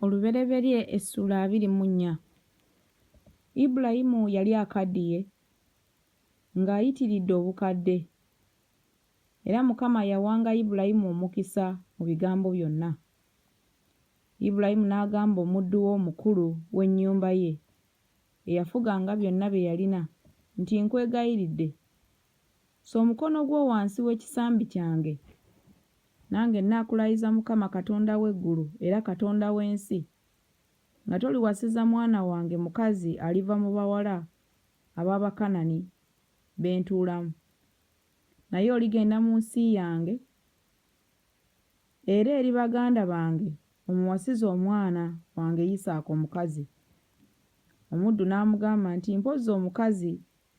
Olubereberye essuula abiri mu nnya. Ibulayimu yali akaddiye, ng'ayitiridde obukadde, era Mukama yawanga Ibulayimu omukisa mu bigambo byonna. Ibulayimu n'agamba omuddu we omukulu w'ennyumba ye, eyafuganga byonna bye yalina, nti, Nkwegayiridde, Ssa omukono gwo wansi w'ekisambi kyange, nange nnaakulayiza Mukama Katonda w'eggulu era Katonda w'ensi, nga toliwasiza mwana wange mukazi aliva mu bawala ab'Abakanani be ntuulamu, naye oligenda mu nsi yange, era eri baganda bange omuwasize omwana wange Isaaka omukazi. Omuddu n'amugamba nti, Mpozzi omukazi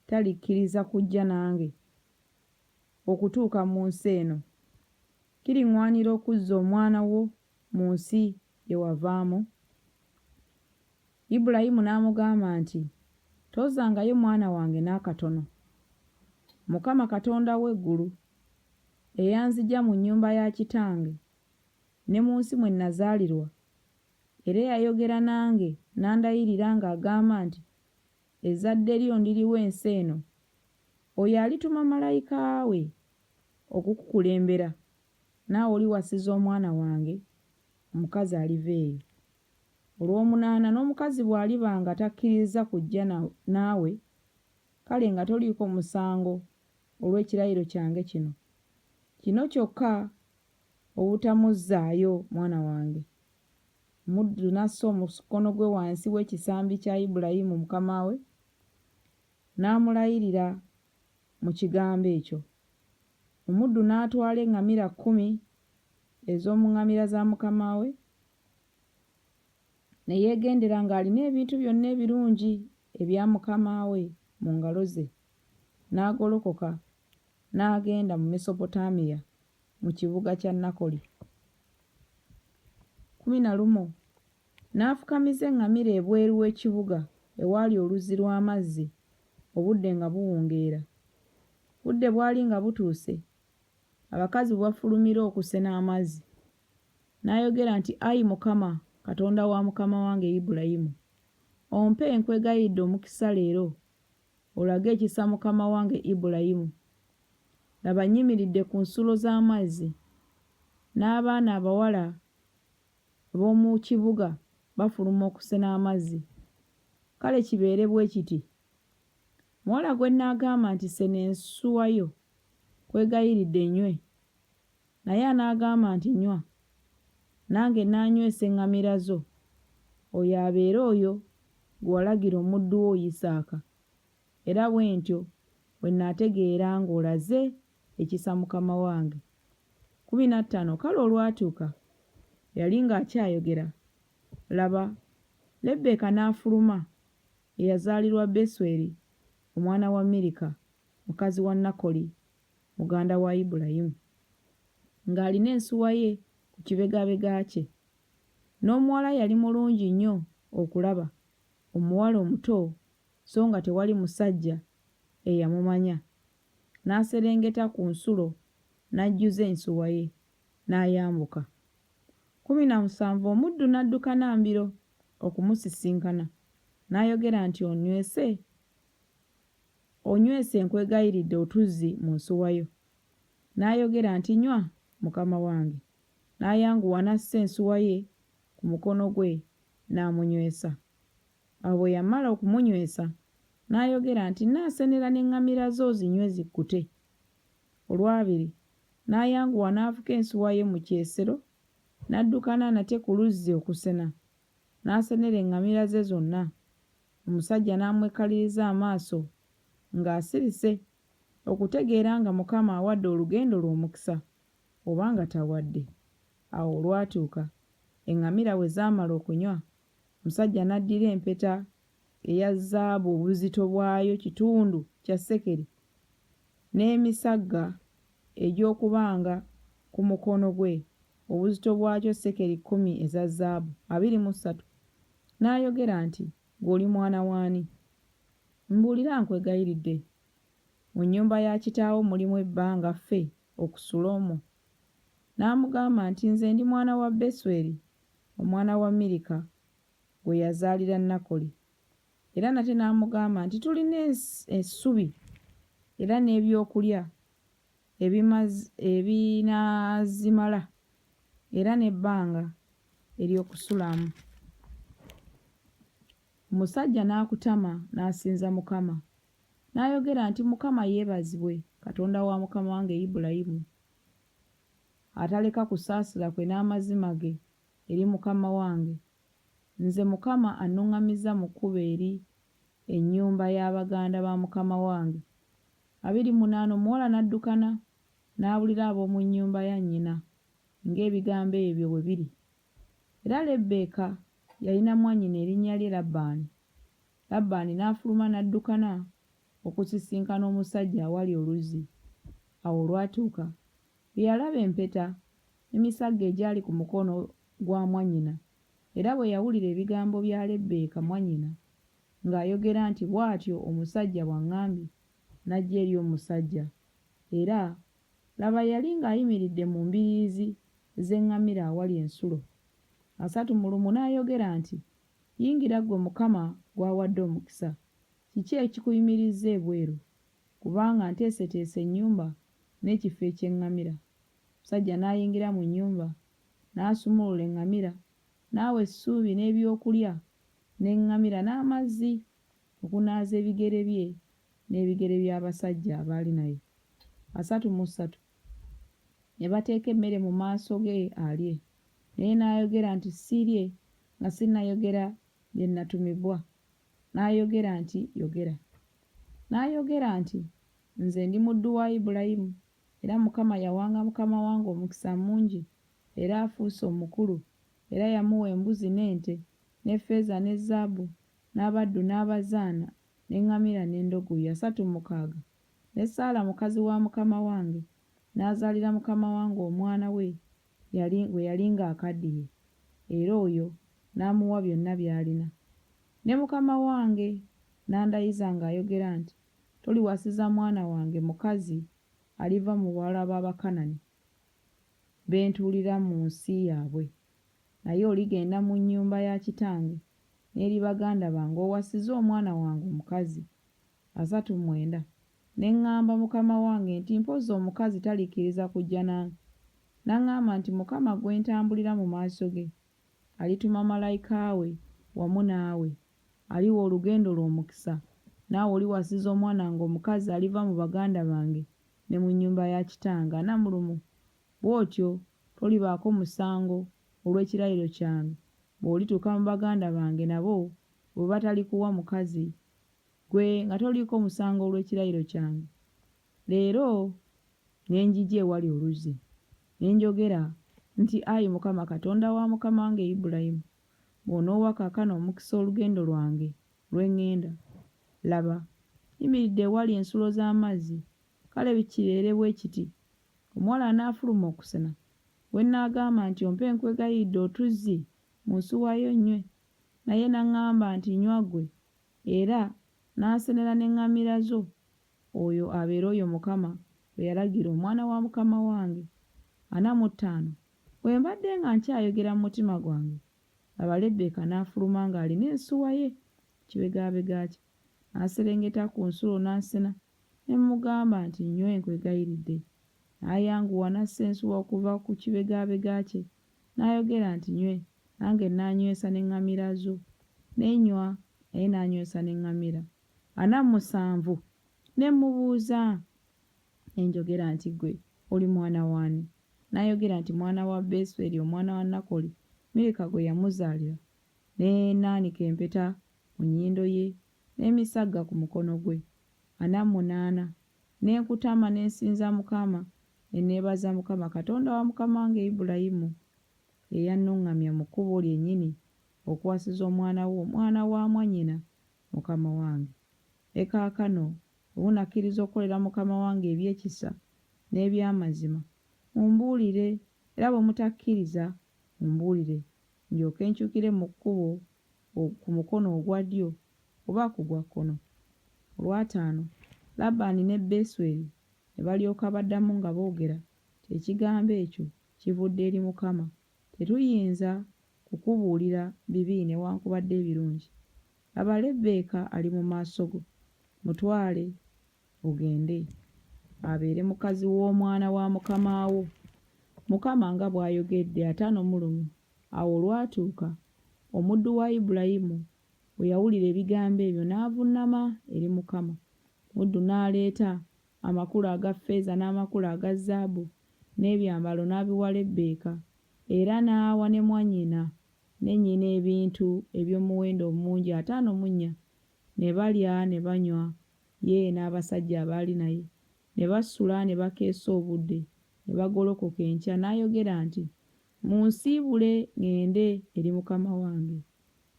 talikkiriza kujja nange okutuuka mu nsi eno, kiriŋŋwanira okuzza omwana wo mu nsi gye wavaamu? Ibulayimu n'amugamba nti, Tozzangayo mwana wange n'akatono. Mukama Katonda w'eggulu, eyanzigya mu nnyumba ya kitange ne mu nsi mwe nazaalirwa, era eyayogera nange n'andayirira ng'agamba nti, ezzadde lyo ndiriwa ensi eno, oyo alituma malayika we okukukulembera, naawe oliwasiza omwana wange omukazi aliva eyo. Olw'omunaana, n'omukazi bw'aliba nga takkirizza kujja naawe, kale nga toliiko musango olw'ekirayiro kyange kino, kino kyokka obutamuzzaayo mwana wange. Omuddu n'assa omukono gwe wansi w'ekisambi kya Ibulayimu mukama we, n'amulayirira mu Kigambo ekyo. Omuddu n'atwala eŋŋamira kkumi ez'omu ŋŋamira za mukama we, ne yeegendera ng'alina ebintu byonna ebirungi ebya mukama we mu ngalo ze, n'agolokoka N'agenda mu Mesopotamiya mu kibuga kya Nakoli. Kumi na lumu n'afukamiza eŋŋamira ebweru w'ekibuga ewaali oluzzi lw'amazzi obudde nga buwungeera. Budde bwali nga butuuse abakazi we bafulumira okusena amazzi. N'ayogera nti, Ayi Mukama, Katonda wa mukama wange Ibulayimu, ompe, nkwegayiridde omukisa leero, olage ekisa mukama wange Ibulayimu. Laba nnyimiridde ku nsulo z'amazzi, n'abaana abawala ab'omu kibuga bafuluma okusena amazzi. Kale kibeere bwe kiti. Muwala gwe nnaagamba nti, Sena ensuwa yo, nkwegayiridde nywe, Naye anaagamba nti, Nywa, nange nnaanywesa eŋŋamira zo, oyo abeere oyo gwe walagira omuddu wo Yisaaka, era bwe ntyo bwe nnaategeera ng'olaze ekisa mukama wange. Kkumi na ttaano Kale olwatuuka bwe yali ng'akyayogera, laba, Lebbeeka n'afuluma, eyazaalirwa Besweri, omwana wa Mirika, mukazi wa Nakoli. muganda wa Ibulayimu, ng'alina ensuwa ye ku kibegabega kye, n'omuwala yali mulungi nnyo okulaba, omuwala omuto, so nga tewali musajja eyamumanya, n'aserengeta ku nsulo n'ajjuza ensuwa ye, n'ayambuka. Kkumi na musanvu omuddu n'adduka na mbiro okumusisinkana, n'ayogera nti, Onnywese? Onywese nkwegayiridde otuzzi mu nsuwa yo. N'ayogera nti, Nywa, mukama wange. N'ayanguwa n'assa ensuwa ye ku mukono gwe n'amunywesa. Awo bwe yamala okumunywesa, n'ayogera nti, Nnaasenera n'eŋŋamira zo zinywe zikkute. Olwabiri, n'ayanguwa n'avuka ensuwa ye mu kyesero, n'addukana nate ku luzzi okusena. N'asenera eŋŋamira ze zonna. Omusajja n'amwekkaliriza amaaso ng'asirise okutegeera nga Mukama awadde olugendo lwe omukisa oba nga tawadde. Awo olwatuuka eŋŋamira bwe zaamala okunywa, omusajja n'addira empeta eya zaabu obuzito bwayo kitundu kya sekeri n'emisagga egy'okubanga ku mukono gwe, obuzito bwakyo sekeri kkumi eza zaabu, abiri mu ssatu, n'ayogera nti, Ggwe oli mwana w'ani? Mbuulira, nkwegayiridde. Mu nnyumba ya kitaawo mulimu ebbanga ffe okusula omwo? N'amugamba nti, Nze ndi mwana wa Besweri, omwana wa Mirika, gwe yazaalira Nakoli. Era nate n'amugamba nti tulina essubi era n'ebyokulya ebinaazimala era n'ebbanga ery'okusulamu. Omusajja n'akutama n'asinza Mukama, n'ayogera nti, Mukama yeebazibwe, Katonda wa mukama wange Ibulayimu, ataleka kusaasira kwe n'amazima ge eri mukama wange. Nze Mukama annuŋŋamizza mu kkubo eri ennyumba ya baganda ba mukama wange. Abiri mu munaana omuwala n'addukana n'abulira ab'omu nnyumba ya nnyina ng'ebigambo ebyo bwe biri. Era Lebbeeka yalina mwannyina erinnya lye Labbaani. Labbaani n'afuluma n'addukana okusisinkana omusajja awali oluzzi. Awo olwatuuka Yalaba empeta emisagge egyali ku mukono gwa mwannyina, era bwe yawulira ebigambo bya Lebbeeka mwannyina ng'ayogera nti, Bw'atyo omusajja bw'aŋŋambye, n'ajja eri omusajja. Era, laba, yali ng'ayimiridde mu mbiriizi z'eŋŋamira awali ensulo. Asatu mu lumu n'ayogera nti, Yingira ggwe Mukama gw'awadde omukisa. Kiki ekikuyimirizza ebweru? kubanga nteeseteese ennyumba n'ekifo eky'eŋŋamira. Omusajja n'ayingira mu nnyumba, n'asumulula eŋŋamira, n'awa essuubi n'ebi'okulya n'eŋŋamira n'amazzi okunaaza ebigere bye n'ebigere by'abasajja abaali naye. Basatu mu ssatu ne bateeka emmere mu maaso ge alye, naye n'ayogera nti, Siirye nga sinnayogera bye nnatumibwa. N'ayogera nti, Yogera. N'ayogera nti, Nze ndi muddu wa Ibulayimu, era Mukama yawanga mukama wange omukisa mungi, era afuuse omukulu, era yamuwa embuzi n'ente, ne ffeeza ne zzaabu, n'abaddu n'abazaana, n'eŋŋamira n'endogoyi asatu mukaaga. Ne Saala mukazi wa mukama wange n'azaalira mukama wange omwana we yali gwe yali ng'akaddiye, era oyo n'amuwa byonna by'alina. Ne mukama wange n'andayiza ng'ayogera nti, Toliwasiza mwana wange mukazi aliva mu bawala b'Abakanani be ntuulira mu nsi yaabwe, naye oligenda mu nnyumba ya kitange n'eri baganda bange owasize omwana wange omukazi. Asatu mwenda. Ne ŋŋamba mukama wange nti, Mpozzi omukazi talikkiriza kujja nange? N'aŋŋamba nti, Mukama gwe ntambulira mu maaso ge, alituma malayika we wamu naawe, aliwa olugendo lwo omukisa, naawe oliwasiza omwana wange omukazi aliva mu baganda bange ne mu nnyumba ya kitange, anamulumu, bw'otyo tolibaako musango olw'ekirayiro kyange, bw'olituuka mu baganda bange nabo bwe batalikuwa mukazi. Ggwe nga toliiko musango olw'ekirayiro kyange leero, ne njija ewali oluzzi, ne njogera nti, Ayi Mukama Katonda wa mukama wange Ibulayimu, bw'onoowa kaakano omukisa olugendo lwange lwe ŋŋenda, laba, nyimiridde ewali ensulo z'amazzi, kale kibeere bwe kiti, omuwala anaafuluma okusena, gwe nnaagamba nti, Ompe nkwegayiridde otuzzi mu nsuwa yo nnywe, naye n'aŋŋamba nti, Nywa ggwe, Era n'asenera n'eŋŋamira zo, oyo abeera oyo Mukama gwe yalagira omwana wa mukama wange, ana mu ttaano. Bwe mbadde nga nkyayogera mu mutima gwange, laba, Lebbeeka n'afuluma ng'alina ensuwa ye ku kibegaabega kye, n'aserengeta ku nsulo n'asena. Ne mmugamba nti, Nnywayo nkwegayiridde. N'ayanguwa n'assa ensuwa okuva ku kibegaabega kye, n'ayogera nti, Nywe. Nange nnanywesa n'eŋŋamira zo. Ne nnywa, naye n'anywesa n'eŋŋamira. Ana musanvu. Ne mmubuuza, ne njogera nti, Ggwe oli mwana w'ani? N'ayogera nti, Mwana wa Besweri omwana wa Nakoli, Mirika gwe yamuzaalira. Ne naanika empeta mu nnyindo ye, n'emisagga ku mukono gwe, ana mu munaana, ne nkutama ne nsinza Mukama, ne neebaza Mukama, Katonda wa mukama wange Ibulayimu, eyannuŋŋamya mu kkubo lyennyini okuwasiza omwana wo, omwana wa mwannyina mukama wange. Ne kaakano bwe munakkiriza okukolera mukama wange eby'ekisa n'eby'amazima, mumbuulire, era bwe mutakkiriza, mumbuulire, ndyoke nkyukire mu kkubo ku mukono ogwa ddyo oba ku gwa kkono? Olwataano, Labbaani ne Besweri ne balyoka baddamu nga boogera nti, Ekigambo ekyo kivudde eri Mukama. Tetuyinza kukubuulira bibi newankubadde ebirungi. Laba, Lebbeeka ali mu maaso go. Mutwale ogende abeere mukazi w'omwana wa mukama wo, Mukama nga bw'ayogedde. Ataano mu lumu awo olwatuuka, omuddu wa Ibulayimu bwe yawulira ebigambo ebyo, n'avunnama eri Mukama. Omuddu n'aleeta amakula aga ffeeza n'amakula aga zaabu n'ebyambalo n'abiwa Lebbeeka, era n'awa ne mwannyina ne nnyina ebintu eby'omuwendo omungi. Ataano mu nnya ne balya ne banywa. Ye n'abasajja abaali naye ne basula ne bakeesa obudde, ne bagolokoka enkya, n'ayogera nti, Munsiibule ŋŋende eri mukama wange.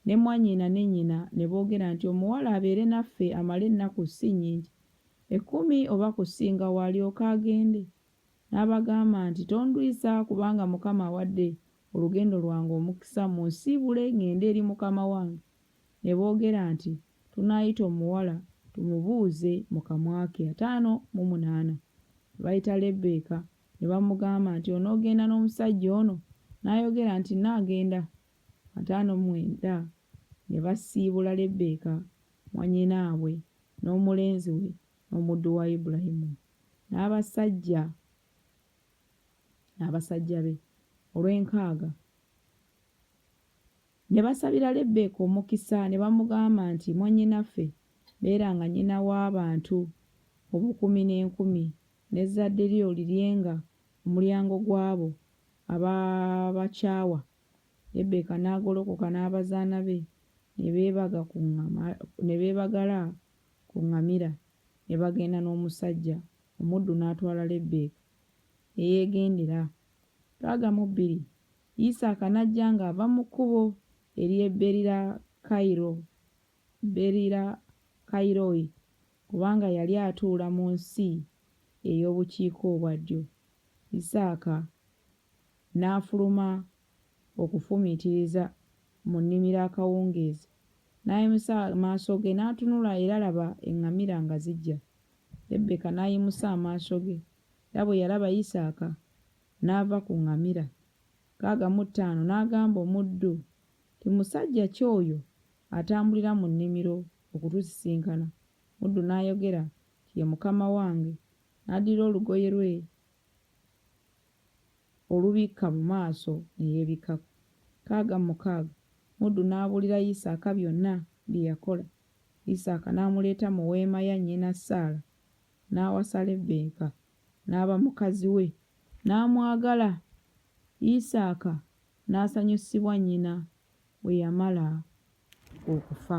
Ne mwannyina ne nnyina ne boogera nti, Omuwala abeere naffe amale ennaku ssi nnyingi, ekkumi oba kusingawo, alyoke agende. N'abagamba nti, Tondwisa, kubanga Mukama awadde olugendo lwange omukisa, munsiibule ŋŋende eri mukama wange. ne boogera nti, Tunaayita omuwala tumubuuze mu kamwa ke. Ataano mu munaana. Ne bayita Lebbeeka, ne bamugamba nti, Onoogenda n'omusajja ono? N'ayogera nti, Nnaagenda. Ataano mu mwenda. Ne basiibula Lebbeeka, mwannyinaabwe, n'omulenzi we, n'omuddu wa Ibulayimu, n'abasajja, n'abasajja be, olw'enkaaga. Ne basabira Lebbeeka omukisa, ne bamugamba nti, Mwannyinaffe, beera nga nnyina w'abantu obukumi n'enkumi, n'ezzadde lyo liryenga omulyango gw'abo ababakyawa. Lebbeeka n'agolokoka n'abazaana be, ne beebaga ku ŋŋama, ne beebagala ku ŋŋamira, ne bagenda n'omusajja, omuddu n'atwala Lebbeeka, ne yeegendera. Twagamu bbiri. Yisaaka n'ajja ng'ava mu kkubo ery'e Beerirakairo, Beerirakairoi, kubanga yali atuula mu nsi ey'obukiikaobwaddyo. Yisaaka n'afuluma okufumiitiriza mu nnimiro akawungeezi, n'ayimusa amaaso ge n'atunula, era laba! eŋŋamira nga zijja. Lebbeeka n'ayimusa amaaso ge, era bwe yalaba Yisaaka, N'ava ku ŋŋamira, nkaaga mu ttaano, n'agamba omuddu nti, Musajja ki oyo atambulira mu nnimiro okutusisinkana? Omuddu n'ayogera nti, Ye mukama wange. N'addira olugoye lwe olubikka mu maaso ne yeebikkako. Nkaaga mu mukaaga, omuddu n'abuulira Yisaaka byonna bye yakola. Yisaaka n'amuleeta mu weema ya nnyina Saala, n'awasa Lebbeeka, n'aba mukazi we, n'amwagala. Isaaka n'asanyusibwa nnyina bwe yamala okufa.